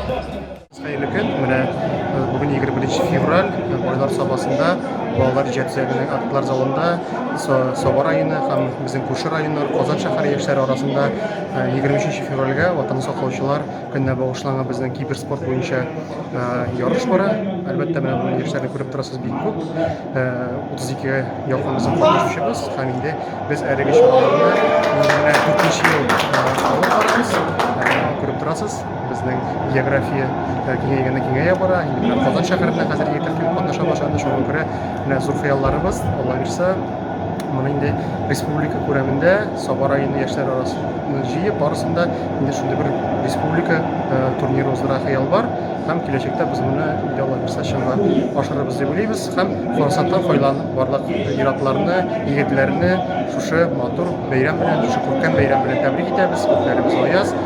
Хәерле көн. Менә э, бүген 21 февраль э, Байлар сабасында балалар җәтсәгенең актлар залында Саба районы һәм безнең күрше районнар Казан шәһәре яшьләре арасында 23 э, февральгә Ватан саклаучылар көненә багышланган безнең киберспорт буенча ярыш бара. Әлбәттә, менә бу яшьләрне күреп торасыз бик күп. 32-гә якын безнең катнашучыбыз һәм инде без әлеге чараларны менә 4 ел алып барабыз. Күреп торасыз. Безнең география киңәйгәннән киңәя бара. Инде менә Казан шәһәренә хәзер егетләр килеп катнаша башлады. Шуңа күрә менә зур хыялларыбыз, Алла бирсә, моны инде республика күләмендә Саба районы яшьләр арасында җыеп, барысында инде шундый бер республика э, турниры уздыра хыял бар. Һәм киләчәктә без моны инде Алла бирсә чынга ашырырбыз дип уйлыйбыз һәм форсаттан файдаланып барлык ир-атларны, егетләрне шушы матур бәйрәм белән, шушы күркәм бәйрәм белән тәбрик итәбез. Күпләребез аяз.